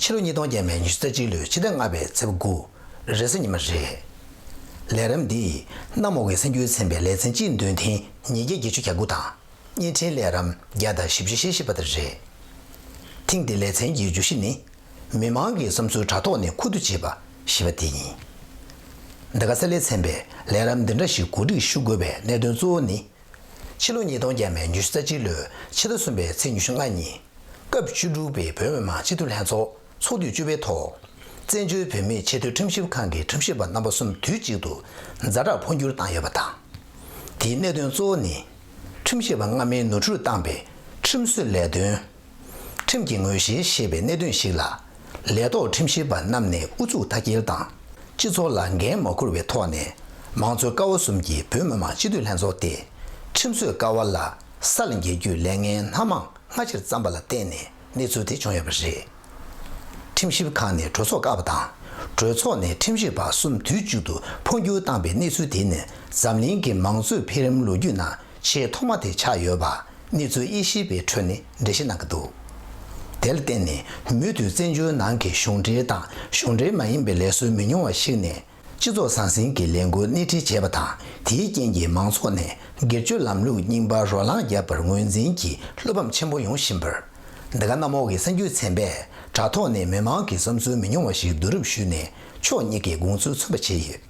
ཕྱི་ལོ་ཉིས་སྟོང་བརྒྱད་མའི་ཉི་ཤུ་རྩ་གཅིག་ལོའི་ཕྱི་ཟླ་ལྔ་པའི་ཚེས་དགུ་རེས་གཟའ་ཉི་མ་རེད། ལས་རིམ་འདིས་གནམ་འོག་གི་སེམས་རྒྱུད་ཚན་པའི་ལས་ཚན་སྤྱི་འདོན་ཐེངས་ཉིས་བརྒྱ་བརྒྱད་ཅུ་གྱ་དགུ་དང་བརྙན་འཕྲིན་ལས་རམ་བརྒྱ་དང་བཞི་བཅུ་ཞེ་བཞི་པ་དེ་རེད། ཐེངས་འདིའི་ལས་ཚན་གྱི་བརྗོད་གཞི་ནི། མི་དམངས་ཀྱི་བསམ་ཚུལ་དྲ་ཐོག་ནས་ཁུ་བསྡུ་བྱེད་པ་ཞེས་པ་དེ་ཡིན། འདི་ག་གསལ་ལས་ཚན་པས་ལས་རམ་འདི་འདྲ་ཞིག་གོ་སྒྲིག་ཞུ་དགོས་པའི་གནད་དོན་གཙོ་བོ་ནི། ཕྱི་ལོ་ཉིས་སྟོང་བརྒྱད་མའི་ཉི་ཤུ་རྩ་གཅིག་ལོའི་ཕྱི་ཟླ་གསུམ་པའི་ཚེས་ཉི་ཤུ་ལྔ་ཉིན། སྐབས་བཅུ་དྲུག་པའི་བོད་མི་མང་སྤྱི་འཐུས་ལྷན་ཚོགས་ཚོགས་དུས་བཅུ་པའི་ཐོག། བཙན་བྱོལ་བོད་མིའི་ཆེས་མཐོའི་ཁྲིམས་ཞིབ་ཁང་གི་ཁྲིམས་ཞིབ་པ་རྣམ་པ་གསུམ་དུས་གཅིག་ཏུ་མཛའ་གྲགས་འཕོ་འགྱུར་བཏང་ཡོད་པ་དང། དེའི་གནད་དོན་གཙོ་བོ་ནི། ཁྲིམས་ཞིབ་པ་སྔ་མའི་ནོར་འཁྲུལ་བཏང་པའི་ཁྲིམས་བཟོའི་ལས་དོན། ཁྲིམས་ཀྱི་ངོས་བཞིན་ཞེས་པའི་གནད་དོན་ཞིག་ལ། ལས་ཐོག་ཁྲིམས་ཞིབ་པ་རྣམས་ནས་ཨུ་ཚུགས་མཐའ་སྐྱེལ་དང། སྤྱི་ཚོགས་ལ་འགན་མ་འཁུར་བའི་ཐོག་ནས། མང་གཙོའི་ཀ་བ་གསུམ་གྱི་བོད་མི་མང་སྤྱི་འཐུས་ལྷན་ཚོགས་ཏེ། ཁྲིམས་བཟོའི་ཀ་བ་ལ་ས་ལ་འགྱེལ་རྒྱུའི་ལས་ངན་སྣ་མང་སྔ་ཕྱིར་བརྩམས་པ་ལ་བརྟེན་ནས་གནས་ཚུལ་དེ་བྱུང་ཡོད་པ་རེད། ཁྲིམས་ཞིབ་ཁང་ནས་གྲོས་ཚོགས་བཀག་པ་དང། གྲོས་ཚོགས་ནས་ཁྲིམས་ཞིབ་པ་གསུམ་དུས་གཅིག་ཏུ་འཕོ་འགྱུར་བཏང་པའི་གནས་ཚུལ་དེ་ནི་འཛམ་གླིང་གི་མང་གཙོའི་འཕེལ་རིམ་ལོ་རྒྱུས་ནང་ཆེས་ཐོག་མ་དེ་ཆགས་ཡོད་པ་གནས་ཚུལ་དབྱེ་ཞིབ་པའི་ཁྲོད་ནས་འགྲེལ་བཤད་གནང་གི་འདུག་དེར་བརྟེན་ནས་མུ་མཐུད་བཙན་བྱོལ་ནང་གི་གཞུང་འབྲེལ་དང་གཞུང་འབྲེལ་མ་ཡིན་པའི་ལས་བཟོ་མི་ཉུང་བ་ཞིག་ནས་སྤྱི་ཚོགས་ཟང་ཟིང་གི་ལས་འགུལ་སྣེ་ཁྲིད་བྱས་པ་དང་དེའི་རྐྱེན་གྱིས་མང་ཚོགས་ནས་སྒེར་གཅོད་ལམ་ལུགས་རྙིང་པར་རོ་ལངས་བརྒྱབ་པར་ངོས་འཛིན་གྱི་བློ་ཕམ་ཆེན་པོ་ཡོང་བཞིན་པར། འདི་ག་གནམ་འོག་གི་གསར་འགྱུར་ཚན་པས་དྲ་ཐོག་ནས་མི་མང་གི་བསམ་ཚུལ་མི་ཉུང་བ་ཞིག་བསྡུ་རུབ་ཞུས་ནས་ཕྱོགས་གཉིས་ཀྱི་དགོངས་ཚུལ་མཚོན་པ་བྱས་ཡོད།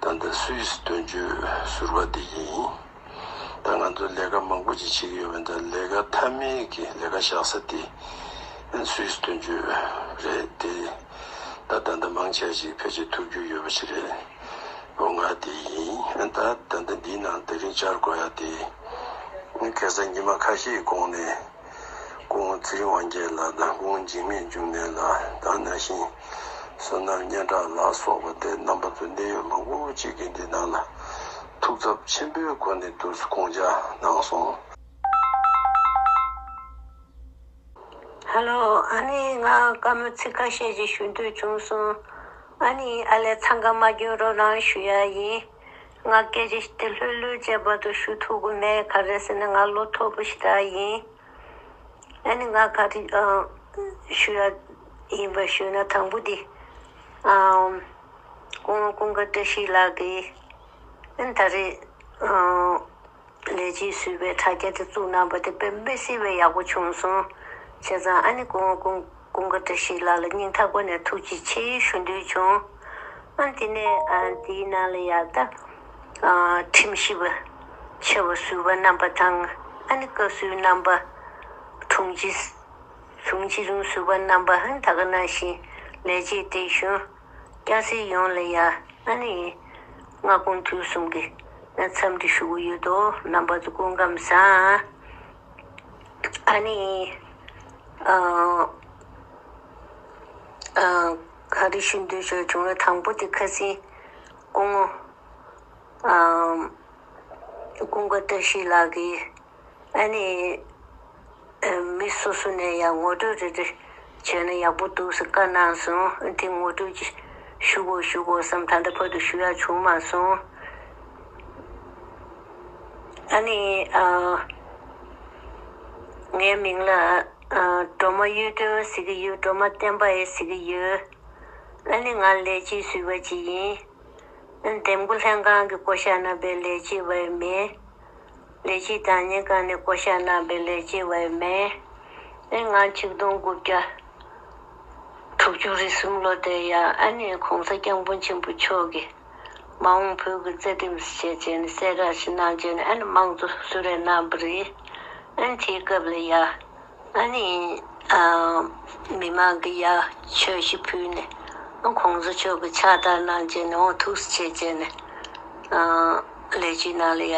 ད་ལྟ་སུད་སི་དོན་གཅོད་ཟུར་བ་དེ་ཡིན། ད་ང་ཚོ་ལས་ཀ་མང་པོ་ཅིག་བྱེད་ཀྱི་ཡོད་པས་ད་ལས་ཀ་མཐའ་མའི་གི་ལས་ཀ་བཞག་ས་དེ་སུད་སི་དོན་གཅོད་རེད་དེ། ད་ད་ལྟ་མང་ཆེ་བ་ཞིག་ཕལ་ཆེར་ཐུག་རྒྱུ་ཡོད་པ་ཞིག་རེད། འོ་ང་དེ་ཡིན། ད་ད་ལྟ་འདིའི་ནང་ད་རིང་བཅར་དགོས་ཡ་དེ། གེ་སར་ཉི་མ་ཁ་ཤས་ཀྱི་གོང་ནས། ཀུན་བརྩེའི་དབང་རྒྱལ་ལ་དང་ཀུན་འཇིགས་མེད་འབྱུང་གནས་ལ་དང་ན་ཤིང་བསོད་ནམས་སྙན་གྲགས་ལ་སོགས་པ་དེ་རྣམ་པ་ཚོ་གནད་ཡོད་མང་པོ་གཅིག་གིས་འདི་དག་ལ་ཐུགས་འཚབ་ཆེན་པོའི་སྒོ་ནས་བསྡུར་བསྐོང་བྱ་གནང་སོང། ཧ་ལོ་ཨ་ནི་ང་བཀའ་མོལ་ཚིག་ཁ་ཤས་ཅིག་ཞུ་འདོད་བྱུང་སོང། ཨ་ནི་ཨ་ལས་འཚང་ཁ་མ་རྒྱོན་རོགས་གནང་ཞུ་ཡག་ཡིན། ང་སྐད་ཆ་ཞིག་དེ་ལྷོད་ལྷོད་ཀྱི་བར་དུ་ཞུ་ཐུབ་གི་མེད་ག་རེ་ཟེར་ན་ང་བློ་མཐོ་པོ་ཞིག་དག་ཡིན། ཨ་ནི་ང་ག་རེ་ཞུ་ཡ་ཡིན་པ་ཞུས་ན་དང་པོ་དེ་ཀུན་དགའ་བཀྲ་ཤིས་ལགས་ཀྱིས་ཨ་ནི་ད་རེས་ལས་བྱེད་ཟུར་པའི་དྲ་རྒྱ་དེ་བཙུགས་གནང་པ་དེ་དཔེ་མི་སྲིད་པའི་ཡག་པོ་བྱུང་སོང། བྱས་ཙང་ཨ་ནེ་ཀུང་ཀུང་ཀུང་ག་བཀྲ་ཤིས་ལགས་ལ་སྙིང་ཐག་པ་ནས་ཐུགས་རྗེ་ཆེ་ཞུ་འདོད་བྱུང། ཨང་དེ་ནས་དེའི་ནང་ལ་ཡར་ལྟ། ཁྲིམས་ཞིབ་པ་ཆེ་བ་ཟུར་པ་རྣམ་པ་དང་ཨ་ནེ་བཀའ་ཟུར་རྣམ་པ། དྲུང་ཆེ། དྲུང་ཆེ་རིང་ཟུར་པ་རྣམ་པ་ད་ག་ནང་བཞིན་ལས་བྱེད་བགྲེས་གཞོན། སྐྱ་སེར་ཡོངས་ལ་ཡང་ང་ནི་སྔ་དགོང་དུས་གསུམ་གྱི་མཚམས་འདྲི་ཞུ་གི་ཡོད་དོ་རྣམ་པ་ཚོ་སྐུ་ཁམས་བཟང། ཨ་ནི། ག་རེ་ཞུ་འདོད་ཤོག་བྱུང་ལ་དང་པོ་དེ་ཁ་སེང་སྐུ་ངོ། སྐུ་འགའ་བཀྲ་ཤིས་ལགས་ཀྱིས་ཨཱ་ནི། མི་སོ་སོ་ནས་ཡང་ངོ་སྤྲོད་རེ་རེ་བྱས་ན་ཡག་པོ་འདུག་ཟེར་བཀའ་གནང་སོང་དེ་ངོ་སྤྲོད་ཀྱི་ཞུ་དགོས་ཞུ་དགོས་སམ་ད་ལྟ་བར་དུ་ཞུ་ཡག་བྱུང་མ་སོང། ཨཱ་ནི། ངའི་མིང་ལ་སྒྲོལ་མ་གཡུ་སྒྲོན་ཟེར་གྱི་ཡོད་སྒྲོལ་མ་བསྟན་པ་ཨེ་ཟེར་གྱི་ཡོད། ཨཱ་ནི་ང་ལས་བྱེད་ཟུར་བ་ཅིག་ཡིན། འདེམས་བསྐོ་ལྷན་ཁང་གི་བསྐོ་གཞག་རྣམ་པའི་ལས་བྱེད་པ་ཡང་མིན། ལས་ཀྱི་བདག་ཉིད་གང་ནས་བསྐོ་བྱ་རྣམ་པའི་ལས་ཀྱི་བའི་མན་ཨེ་ངག་ཆིག་སྟོང་དགུ་བརྒྱ་དྲུག་ཅུ་རེ་གསུམ་ལོ་དེ་ཡང་ཨ་ནེ་གོང་ས་སྐྱབས་མགོན་ཆེན་པོ་མཆོག་གིས་མ་འོངས་བོད་ཀྱི་རྩེ་ལྡེམ་བྱེད་ཅེས་ནས་གསལ་བསྒྲགས་ཞིག་གནང་རྗེས་ནས་ཨ་ནེ་དམངས་གཙོ་སུ་རེད་རྣམ་པར་རིག་ཨེ་འཐིའི་སྐབས་ལས་ཡ། ང་ནི་མི་མང་གི་ཡ་ཆོས་ཤིག་ཕུལ་ནས་ཁོང་ཚོ་ཆོས་ཀྱི་ཕྱག་བསྟར་གནང་རྗེས་ནས་ཐུགས་སུ་ཆེ་བྱས་ནས་ལས་ཀྱི་ནང་ལ་ཡ་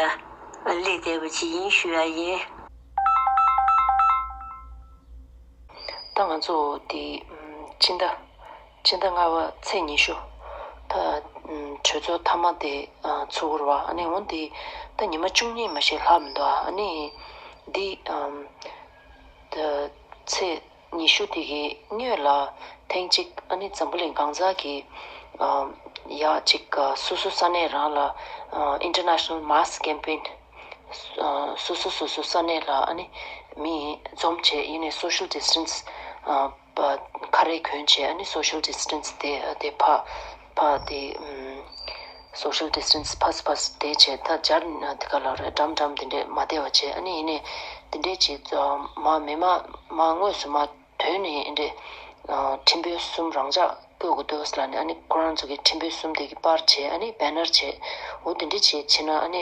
ལས་དད་པ་ཅི་ཡིན་ཞུས་པ་ཡིན། ད་ང་ཚོ་དེ་སྤྱི་ཟླ་ཕྱི་ཟླ་ལྔ་བ་ཚེས་ཉི་ཤུ། གྲོས་ཚོགས་མཐའ་མ་དེ་ཚུགས་འགོར་བ། འོན་ཏེ། ད་ཉི་མ་བཅུ་གཉིས་མ་ཞིག་ལྷག་མི་འདུག་ཨ། འདི། ཚེས་ཉི་ཤུ་དེ་གའི་སྨྱོས་ལ། ཐེངས་གཅིག་ཨ་ནི་འཛམ་བུ་གླིང་གང་ཟག་གི། ཡག་གཅིག་སོ་སོ་ས་གནས་རང་ལ། International Mask Campaign། སོ་སོ་སོ་སོ་ས་གནས་ལ་ཨ་ནི། མི་འཛོམས་ཆེད་ཡེ་ནས Social Distance། ཁ་རས་གྱོན་ཆས་ནི Social Distance དེ་དེ་ཕ་ཕ་དེ Social Distance ཕ་སུ་ཕ་སུ་དེ་བྱས་ད་སྦྱར་ན་དེ་ག་ལ་རེད་འགྲམ་འགྲམ་དེ་འདྲས་མ་བདེ་བ་བྱས་ནི་ཡིན་ནས་དེ་འདྲས་བྱས་མ་མེད་མ་མ་དངོས་སུ་མ་དོན་ནི་ཡིན་འདྲས་ཁྲིམས་དཔོན་གསུམ་རང་འཇགས་བསྐོས་དགོས་དོས་ལ་ནི་ཨ་ནི་ཁོ་རང་ཚོ་གི་ཁྲིམས་དཔོན་གསུམ་དེ་གི་པར་བྱས་ཨ་ནི Banner བྱས་འོ་དེ་འདྲས་བྱས་བྱས་ན་ཨ་ནི།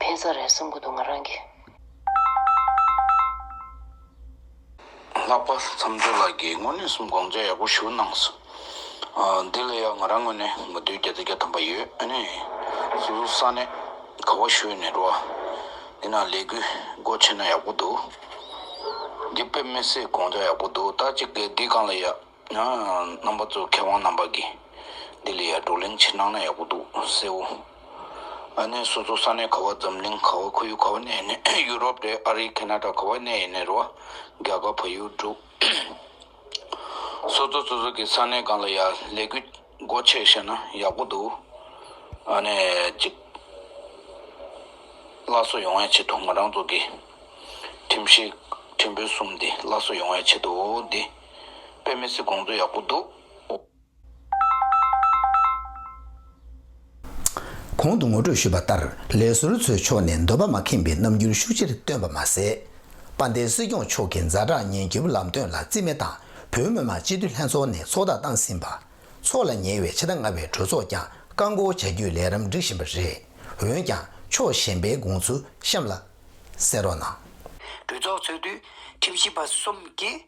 ཕན་ས་རེད་བསམ་གི་འདུག་ང་རང་གིས། ལྷག་པར་མཚམས་སྦྱོར་ལགས་ཀྱིས་དངོས་གནས་སུ་དགོངས་འཇགས་ཡག་པོ་ཞུ་གནང་སོང། འདི་ལས་ཡག་ང་རང་ངོས་ནས་མི་སྡོད་རྒྱ་རྩེ་རྒྱ་དམ་པ་ཡོད་ཨ་ནི། སོ་སོ་ས་གནས་ག་བ་ཤོད་ནས་འགྲོ་བ། འདི་ན་ལས་གུས་སྒོ་ཕྱེ་ན་ཡག་པོ་འདུག། འདི་དཔེ་མི་སྲིད་དགོངས་འཇགས་ཡག་པོ་འདུག་ད་ཅིག་གི་འདི་གང་ལ་ཡག། ཡང་རྣམ་པ་ཚོའི་མཁས་དབང་རྣམ་པ་གིས་འདི་ལས་ཡར་བགྲོ་གླེང་ཕྱིར་གནང་ན་ཡག་པོ་འདུག་སེའོ། ཨ་ནེ་སོ་སོ་ས་གནས་ཁ་བ་འཛམ་གླིང་ཁ་བ་ཁོར་ཡུག་ཁ་བ་གནས་ཡིན་ནས་ཡུ་རོབ་རེད་ཨ་རི་ཁེ་ན་ཏྲ་ཁ་བ་གནས་ཡིན་ནས་རུ་བ་རྒྱ་གར་བལ་ཡུལ་འབྲུག་སོ་སོ་སོ་སོ་གི་ས་གནས་གང་ལ་ཡར་ལས་གུས་སྒོ་ཕྱེས་བཤད་ན་ཡག་པོ་འདུག་ཨ་ནེ་གཅིག་སླར་གསོ་ཡོང་བའི་ཆེད་དུ་ང་རང་ཚོ་གི་ཁྲིམས་ཤིག་ཁྲིམས་དཔོན་གསུམ་འདི་སླར་གསོ་ཡོང་བའི་ཆེད་དུ་འོ་འདི། དཔེ་མི་སྲིད་དགོངས་ཚུལ་ཡག་པོ་འདུག། གོང་དུ་ངོ་སྤྲོད་ཞུས་པ་ལྟར་ལས་ཟུར་ཚོའི་ཕྱོགས་ནས་འདོད་པ་མ་ཁེངས་པའི་རྣམ་འགྱུར་ཤུགས་ཆེར་སྟོན་པ་མ་ཟད། དཔའ་མཐའི་སྲིད་སྐྱོང་མཆོག་གི་མཛའ་གྲགས་ཉེན་སྐྱོབ་ལམ་སྟོན་ལ་རྩིས་མེད་དང་བོད་མི་མང་སྤྱི་འཐུས་ལྷན་ཚོགས་ནས་ཚོགས་བསྒྲགས་བཏང་ཟིན་པ། ཚོགས་ལ་ཉེ་བའི་ཕྱི་ཟླ་ལྔ་བའི་གྲོས་ཚོགས་ཀྱང་བཀག་འགོག་བྱ་རྒྱུའི་ལས་རིམ་སྒྲིག་བཞིན་པ་རེད། འོན་ཀྱང་ཕྱོགས་གཞན་པའི་དགོངས་ཚུལ་གཤམ་ལ་གསལ་རོགས་གནང། གྲོས་ཚོགས་ཚོགས་དུས་ཁྲི་བཞི་པ་གསུམ་གྱིས།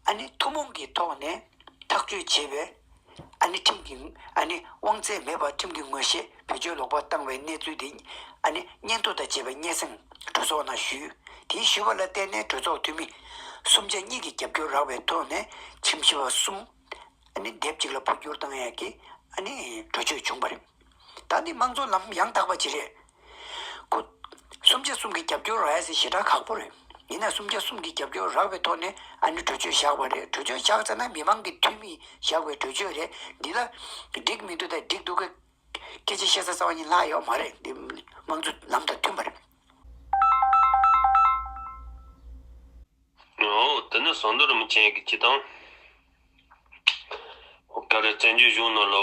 ཨ་ནི་ཐུན་མོང་གི་ཐོག་ནས་ཐག་གཅོད་བྱེད་པའི། ཨ་ནི་ཁྲིམས་ཀྱི་ཨ་ནི་དབང་ཚད་མེད་པར་ཁྲིམས་ཀྱི་ངོས་བཞེས་བེད་སྤྱོད་ལོག་པར་བཏང་བའི་གནས་ཚུལ་དེ་ཨ་ནི་སྙན་ཐོ་དང་བཅས་པའི་སྙན་སེང་གྲོས་ཚོགས་ནང་ཞུས། དེའི་ཞུས་པ་ལ་བརྟེན་ནས་གྲོས་ཚོགས་འཐུས་མི། གསུམ་ཆ་གཉིས་ཀྱི་རྒྱབ་སྐྱོར་རག་པའི་ཐོག་ནས་ཁྲིམས་ཞིབ་པ་གསུམ། ཨ་ནི་སྡེབ་གཅིག་ལ་འཕོ་འགྱུར་བཏང་ཡས་ཀྱི་ཨ་ནི་གྲོས་ཆོད་བྱུང་བ་རེད། ད་ནི་དམངས་གཙོ་ལམ་ཡང་དག་པ་ཅི་རེད། སུམ་བརྒྱ་གསུམ་གྱི་རྒྱབ་སྐྱོར་རག་ཡ་སའི་ཞེ་དྲག་ཁག་པོ་རེད། ཡིན་ན་སུམ་བརྒྱ་གསུམ་གྱི་རྒྱབ་སྐྱོར་རག་པའི་ཐོག་ནས་ཨ་ནི་གྲོས་ཆོད་བཞག་པ་རེད་གྲོས་ཆོད་བཞག་ཚར་ན་མི་མང་གི་འཐུས་མིས་བཞག་པའི་གྲོས་ཆོད་རེད་འདི་ལ། འགྲིག་མི་འདུག་དང་འགྲིག་འདུག་གི་སྐད་ཆ་བཤད་ས་རྩ་བ་ཉིད་ལྷག་ཡོད་མ་རེད་འདི་དམངས་གཙོ་ལམ་དང་མཐུན་པ་རེད། འོ་དེ་ནི་ཟངས་རྡོ་རི་མོ་ཅན་གྱི་སྐྱིད་ཐང། ཀ་རི་བཙན་བྱོལ་གཞུང་ནང་ལོ་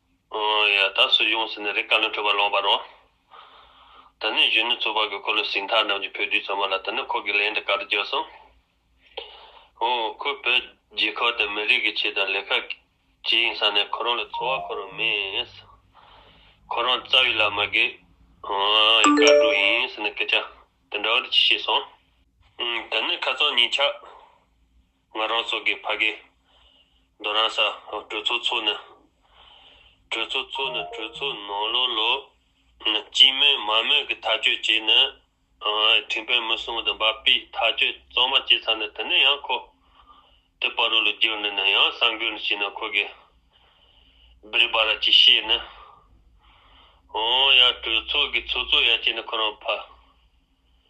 ད་སུ་ཡོང་ཟེར་ནས་རེ་བཀའ་བློན་ཁྲི་བ་ལོང་བར་རོ། དེ་ནས་གཞོན་ནུ་ཚོ་བར་གྱི་འཁོར་ལོ་ཞིང་ཐང་རྣམས་ཀྱི་བུ་རྒྱུད་ཚང་མ་ལ་དེ་ནས་ཁོ་གི་ལན་འདི་ག་རེ་བརྗོད་སོང། ཧོ། ཁོ་བོད་རྒྱལ་ཁབ་དང་མི་རིགས་ཀྱི་ཆེད་དང་ལས་ཁ་གྱིས་ཡིན་ས་ནས་ཁོ་རང་ལ་འཚོ་བ་འཁོར་རོགས་མེད། ཁོ་རང་རྩ་བའི་ལ་མ་དགེ། ཡི་དཀར་དྲུག་ཡིན་ཟེར་ནས་སྐད་ཆ་དེ་འདྲ་བ་འདི་ཅི་བཤད་སོང། དེ་ནས་ཁ་རྩང་གཉིས་ཆགས། ང་རང་སོགས་ཀྱི་ཕ་གི། མདོ་རང་ས། གྲོས་ཚོགས་ཚོགས་ནི། གྲོས་ཚོགས་ཚོགས་ནི་གྲོས་ཚོགས་ནང་ལོ་ལོ། སྤྱི་མོས་མ་མོས་ཀྱི་ཐག་གཅོད་བྱས་ནི། དྲིན་ཕན་མི་སྲུང་བདུན་པ་པས་ཐག་གཅོད་གཙང་མ་བྱས་ཚར་ནི་དེ་ནི་ཡང་ཁོ། དེ་པར་རོ་ལུ་བསྒྱུར་ནི་ནི་ཡང་སང་གོས་ནི་བྱས་ནི་ཁོ་གི། བིརི་བ་ར་ཅི་བཤད་ནི། ཨོང་ཡ་གྲོས་ཚོགས་ཀྱི་ཚོགས་གཙོ་ཡ་བྱས་ནི་ཁོ་རང་ཕ།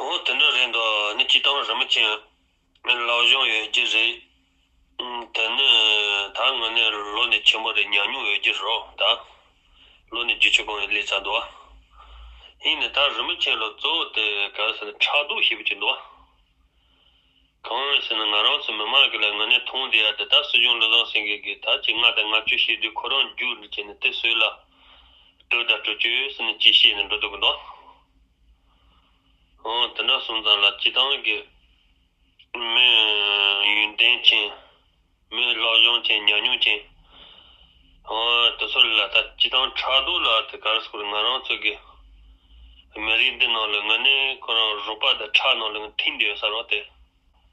འོ་དེ་འདྲ་རེད་འདོད་ནི་སྐྱིད་ཐང་རིན་པོ་ཆེ་མི་ལོག་གཞུང་ཡོད་རྒྱུ་རེད་དེ་ནི་ད་ངོ་ནས་ལོ་ནི་ཆེན་པོ་རེད་ཉམས་མྱོང་ཡོད་རྒྱུ་རོ་ད་ལོ་ནི་རྒྱུ་ཆེ་གང་ཡིན་ལས་ཚ་འདུག་ཡིན་ནི་ད་རིན་པོ་ཆེན་ལོ་གཙོ་བོ་དེ་ག་ཟེར་ནི་ཕྲག་དོག་ཞིག་བྱུང་འདུག་གང་ཟེར་ནི་ང་རང་ཚོ་མི་མང་གི་ལ་ངོ་ནས་མཐོང་བདེ་ཡ་དེ་ད་སྲིད་གཞུང་བློ་བཟང་སེང་གེ་གི་ད་ཅི་ང་དང་ང་ཁྱོད་ཤེས་དུས་ཁོ་རང་རྒྱུག་ནི་བྱས་ནི་དེ་སོས་ལ་སྤྲོད་ད་སྤྲོད་ཁྱོད་ཟེར་ནི་ཅི་བཤད་ནི་འགྲོ་འདུག་གི་འདུག། དེ་འདྲ་སོང་ཙང་ལ་སྤྱི་བཏང་གི། མི་ཡོན་ཏན་ཅན། མི་བློ་སྦྱོང་ཅན་ཉམས་མྱོང་ཅན། དེ་ཚོ་ལ་ད་སྤྱི་བཏང་ཕྲག་དོག་ལ་དེ་གར་སོང་ང་རང་ཚོ་གི། མི་རིགས་འདི་ནང་ལ་ང་ནི་ཁོ་རང་རུ་པ་དེ་ཁྲག་ནང་ལ་ང་ཐིངས་འདི་ཡོད་ས་རོགས་དེ།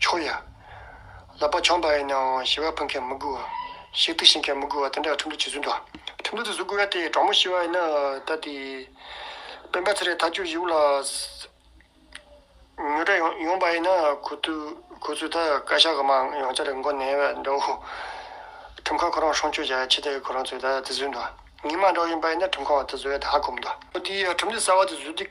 ཆོག་ཡ། ལག་པ་འཆང་བ་ཡིན་ནའང་ཤི་བ་ཕུད་མཁན་མི་དགོས། ཤི་དུས་ཤི་མཁན་མི་དགོས་པ་དེ་འདྲ་ཁྲིམས་ལུགས་ཇི་བཟོས་འགྲོ། ཁྲིམས་ལུགས་ཇི་བཟོ་དགོས་ཡ་དེ་དྲང་མོ་ཤི་བ་ཡིན་ན་ད་དེ། སྤེན་པ་ཚེ་རིང་ཐ་ཆུ་བཞི་བོ་ལ། ཉོ་གྲྭ་ཡོང་བ་ཡིན་ན་ཁོ་ཚོས་ད་བཀའ་ཤག་གི་མང་ཡང་བསྐྱར་མགོ་ནས་བ་འདྲ་བོ། ཁྲིམས་ཁང་ཁོ་རང་སྲུང་སྐྱོབ་བྱ་ཆེད་དེ་ཁོ་རང་ཚོས་ད་དེ་བཟོས་འགྲོ། ངེས་མ་འདྲ་བོ་ཡིན་པ་ཡིན་ན་ཁྲིམས་ཁང་བ་དེ་བཟོ་ཡ་དེ་ཧ་གོ་མི་འདུག། ཁོ་དེའི་ཡ་ཁྲིམས་ལུགས་གསར་བ་དེ་བཟོས་དུས།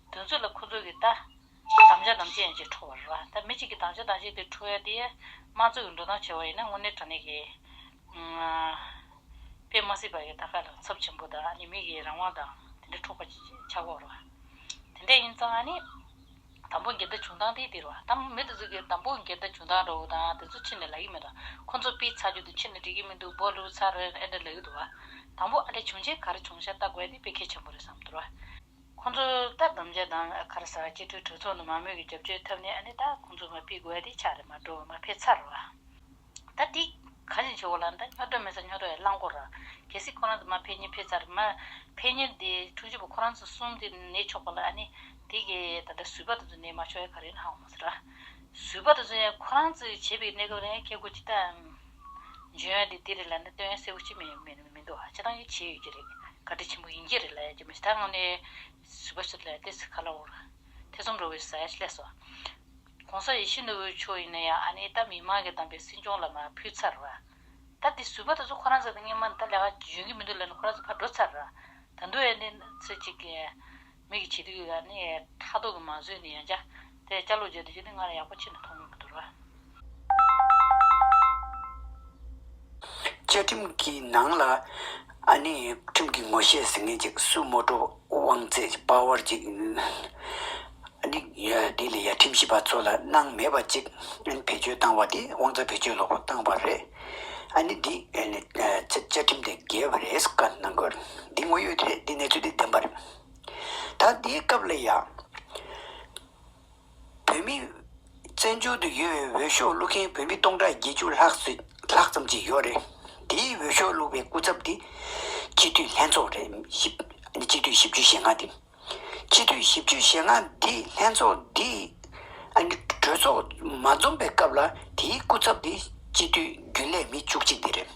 དོན་ཚོད་ལ་ཁོ་ཚོ་གིས་ད། དམ་བཅའ་དམ་བཅའ་ཡང་ཅིག་འཕྲོ་བར་རོ། ད་མི་གཅིག་གིས་དམ་བཅའ་དམ་བཅའ་དེ་འཕྲོ་ཡ་དེ། དམངས་གཙོ་གི་འགྲོ་སྟངས་བྱས་པ་ཡིན་ན་དངོས་གནས་དྲང་གནས་ཀྱི། པས་མ་སྲིད་པ་ཡི་ད་ག་ལ་ཚབ་ཆེན་པོ་དང་ཨ་ནི་མིག་གི་རང་དབང་དང་དེ་འདྲ་འཕྲོག་པ་ཆགས་འོག་རོ། དེ་འདྲ་ཡིན་ཙང་ཨ་ནི། དང་པོ་འགལ་ཟླ་བྱུང་སྟངས་དེ་དེ་རོ། ད་མི་དེ་ཚོ་གིས་དང་པོ་འགལ་ཟླ་བྱུང་སྟངས་འདྲ་བོ་དང་དེ་ཚོ་ཕྱི་ནས་ལག་གི་མི་དང་ཁོ་ཚོ་པས་ཚ་རྒྱུད་དུ་ཕྱི་ནས་འགྲིག་གི་མི་འདུག་སྦོ་ལུག་ཚ་རེད་ཨེ་འདྲ་ལབ་ཀྱི་འདུག་བ། དང་པོ་ཨ་འདྲ་བྱུང་རྗེས་ག་རེ་བྱུང་བྱ་ལྟ་དགོས་དེ་དཔེ་གལ་ཆེན་པོ་རེད་བསམ་འདུག་རོ། ཁོང་ཚོ་ད་བསྡོམས་བརྒྱ་དང་ཨ་ཁར་ས་སྤྱི་འཐུས་གྲོས་ཚོགས་ནས་མང་མོས་ཀྱི་རྒྱབ་སྐྱོར་ཐབས་ནས་ཨ་ནི་ད་ཁོང་ཚོ་མ་ཕིས་དགོས་ཨ་དེ་ཆགས་རེད་མ་འགྲོ་བ་མ་ཕེ་ཚར་རོ་ཨ། ད་དེ་ག་བཞིན་བྱེད་འོ་ལ་ད་སྨྱོ་འདོད་མེད་ས་སྨྱོ་འདོད་ཨ་རླངས་འཁོར་ར། གལ་སྲིད་ཁོ་རང་ཚོ་མ་ཕེ་གཉིས་ཕེ་ཚར་མ་ཕེ་གཉིས་དེ་ཕྲུག་བཞི་པོ་ཁོ་རང་ཚོ་གསུམ་དེ་ནད་ཆོག་པ་ལ་ཨ་ནི་དེ་གས་ད་ལྟ་བཟོད་པ་དེ་ཚོ་ནད་མ་ཆོག་ཨེ་ག་རེད་ཧང་བ་མ་ཟེར་ར། བཟོད་པ་དེ་ཚོ་ཡང་ཁོ་རང་ཚོས་བྱས་པའི་གནས་སྐབས་རེད་ཨ་ཁྱེད་ཀོ་ཅི་ལྟ་འམ། འཇོན་ཨ་དེ་དེ་རེད་ལ་ད་སྟོན་ཡ་གསལ་བོ་ཅི་མེད་མེད། མི་འདུག་ཨ་ཅེ་རང་ཡིད་ཆེས་ཡོད་ཀྱི་རེད་བཀའ་དྲིན་ཆེན་པོ་ཡིན་གྱི་རེད་ལས་ཀྱི་མི་ཐང་ངོ་ནས་བཟི་བ་ཞིག་ལས་ཏེ་སི་ཁ་ལ་འོར་ཐེ་ཚོམ་འགྲོ་བའི་བཟའ་ཡ་ལས་སོ། གོང་ས་ཡེ་ཤེས་ནོར་བུའི་མཆོག་ཡིན་ན་ཡང་ཨ་ནེ་ད་མི་མང་གི་གདམས་པའི་སྲིད་སྐྱོང་ལ་མ་ཕུལ་ཚར། ད་འདི་བཟོས་པ་དེ་ཚོ་ཁོ་རང་ཚོ་དང་གཉིས་མ་ད་ལས་ཀ་འཇོན་གྱི་མི་འདུག་ལས་ན་ཁོ་རང་ཚོ་ཕར་འགྲོ་ཚར། ད་འདུག་ཨ་ནེ་ཚོ་ཅིག་མིག་གི་བྱེད་སྡུག་གིས་ནི་ཁྲག་མདོག་གིས་མ་བཟོས་ནས་ཡང་བྱ། དེ་བྱ་ལོ་བརྒྱད་དུ་བྱས་ཏེ་སྔར་ལས་ཡག་པོ་ཕྱིན་ནས་ཐོག་མར་གྱི་དུར་བ། བཅའ་ཁྲིམས་ཀྱི་ནང་ལ་ནི་ཁྲིམས་ཀྱི་ངོ་ཤེས་ཟིན་མཁན་གཅིག་སུ་མོ་ཀྲོ་དབང་རྩེ་པའོར་གཅིག་ནི་དེ་ལས་ཡ་ཁྲིམས་ཞིབ་པ་ཚོ་ལ་གནང་མེད་པ་གཅིག་བེད་སྤྱོད་བཏང་བ་དེ་དབང་རྩ་བེད་སྤྱོད་ལོག་པོ་བཏང་བ་རེད། ནི་འདི་བཅའ་ཁྲིམས་དེ་འགལ་བ་རེད་སྐད་གནང་དགོས། འདི་དངོས་ཡོད་རེད་འདི་གནས་ཚུལ་དེ་བདེན་པ་རེད། ད་ལྟའི་སྐབས་ལ་ཡང། བོད་མི། བཙན་བྱོལ་དུ་ཡོད་པའི་འོས་ཤོག་བླུག་མཁན་བོད་མི་སྟོང་ཕྲག་བརྒྱད་ཅུ་ལྷག་ཙམ་ཅིག་ཡོད་རེད། དེའི་འོས་ཤོག་བླུག་པའི་སྐུ་ཚབ་དེ། སྤྱི་འཐུས་ལྷན་ཚོགས་རེད། སྤྱི་འཐུས་བཞི་བཅུ་ཞེ་ལྔ་དེ། སྤྱི་འཐུས་བཞི་བཅུ་ཞེ་ལྔ་དེ་ལྷན་ཚོགས་དེ། གྲོས་ཚོགས་མ་འཛོམས་པའི་སྐབས་ལ་དེའི་སྐུ་ཚབ་དེ་སྤྱི་འཐུས་རྒྱུན་ལས་མི་བཅུ་གཅིག་དེ་རེད།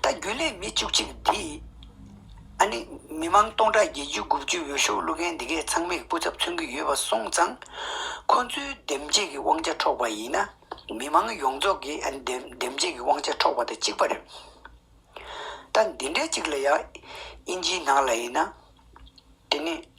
ད་རྒྱུན་ལས་མི་བཅུ་གཅིག་འདི། ཨ་ནི། མི་དམངས་སྟོང་ཕྲག་བརྒྱད་ཅུ་དགུ་བཅུའི་འོས་ཤོག་བླུག་མཁན་འདི་གས་ཚང་མས་སྐུ་ཚབ་མཚོན་གྱི་ཡོད་པ་སོང་ཙང། ཁོ་ཚོའི་འདེམས་བྱེད་ཀྱི་དབང་ཆ་འཕྲོག་པ་ཡིན་ན། མི་དམངས་ཡོངས་རྫོགས་ཀྱི་འདེམས་བྱེད་ཀྱི་དབང་ཆ་འཕྲོག་པ་དང་གཅིག་པ་རེད། ད་འདི་འདྲའི་གཅིག་ལ་ཡང་ཨིན་ཇིའི་ནང་ལ་ཡིན་ན། དེ་ནི།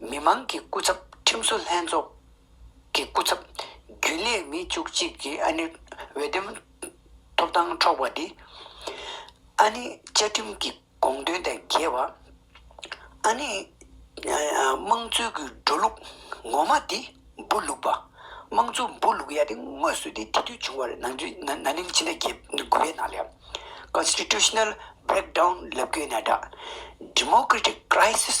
མི་མང་གི་སྐུ་ཚབ་ཁྲིམས་བཟོ་ལྷན་ཚོགས་ཀྱི་སྐུ་ཚབ་རྒྱུན་ལས་མི་བཅུ་གཅིག་གི་ཨ་ནེ་འོས་འདེམས་ཐོབ་ཐང་འཕྲོག་པ་དེ། ཨ་ནེ་བཅའ་ཁྲིམས་ཀྱི་དགོངས་དོན་དང་འགལ་བ། ཨ་ནེ་དམངས་གཙོའི་གུ་འབྲུ་ལུག་ངོ་མ་དེ་འབུ་ལུག་པ་དམངས་གཙོ་འབུ་ལུག་ཡ་དེ་དངོས་སུ་དེ་དེ་དུས་བྱུང་བ་རེད་ན་ནིང་ཕྱི་ཟླ་བརྒྱད་དགུ་པའི་ནང་ལས Constitutional Breakdown ལབ་དགོས་ན་འདྲ Democratic Crisis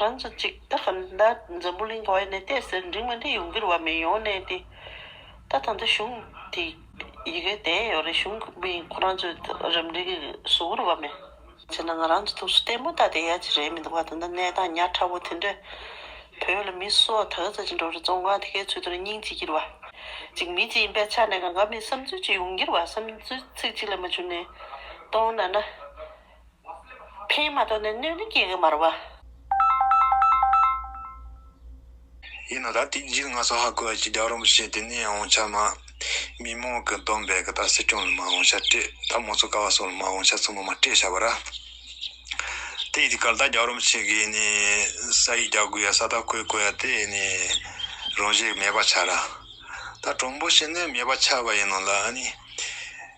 རང་ཚོ་ཅིག་རྟག་གི་མདའ་འཛམ་བུ་གླིང་ག་བའི་ནས་ཏེ་ཟེར་འགྲིག་མ་འགྲིག་ཡོང་གིར་བ་མེད་ཡོང་ནས་ཏེ། ད་ད་འདི་གཞུང་དེ་ཡི་གེ་དེ་ཡོད་རེད་གཞུང་གི་མི་ཁོ་རང་ཚོའི་རིམ་འགྲིག་གི་བཟོ་གིར་བ་མེད། བྱས་ན་ང་རང་ཚོ་ཐུགས་སུ་ལྟད་མོ་ལྟ་དེ་ཡ་ཅི་རེད་མི་འདུག་བ་ད་འདི་གནས་སྟངས་ཉག་ཕྲ་བོ་དེ་འདྲས་བོད་ལ་མི་སོ་ད་ག་ཚད་ཅིག་འགྲོ་རེད་ཙོང་ཁང་དེ་གའི་ཚུལ་དུ་རེ་སྙིང་བྱེད་ཀྱིར་བ་ཅིག་མི་ཅིག་ཡིན་པའི་ཆ་ནས་ག་འགའ་མི་བསམ་ཚུལ་ཅིག་ཡོང་གིར་བ་བསམ་ཚུལ་ཚིག་གཅིག་ལས་མ་བྱུང་ནས་སྟོང་ན་ན། ཕན་མ་ཐོགས་ནས་གནོད་ནི་སྐྱེ་གི་མར་བ། ཡིན་ནོ་ད་དུས་འཇིག་ང་སོ་ཧ་གོ་ཨ་ཅི་རྒྱག་རོམ་བྱེད་དེ་ནས་ཨོང་ཆ་མ། མི་མོང་གི་སྡོམ་པས་གི་ད་སི་ཀྲོན་ལ་མ་ཨོང་ཆ་སྤྲད་ད་མོ་ཚོ་ཀ་བ་སོགས་ལ་མ་ཨོང་ཆ་ཚོ་མོ་མ་སྤྲད་བྱ་བ་ར། དེ་ཡི་དུས་ག་ལ་ད་རྒྱག་རོམ་བྱེད་གི་ཨེ་ནི་ས་ཡིག་རྒྱག་དགོས་ཡ་ས་ད་གོས་དགོས་ཡ་དེ་ཨེ་ནི། རང་བཞེད་མེད་པ་ཆགས་ར། ད་གྲོང་པོ་ཞིག་ནི་མེད་པ་ཆགས་པ་ཡིན་ནོ་ལ་ཨ་ནི།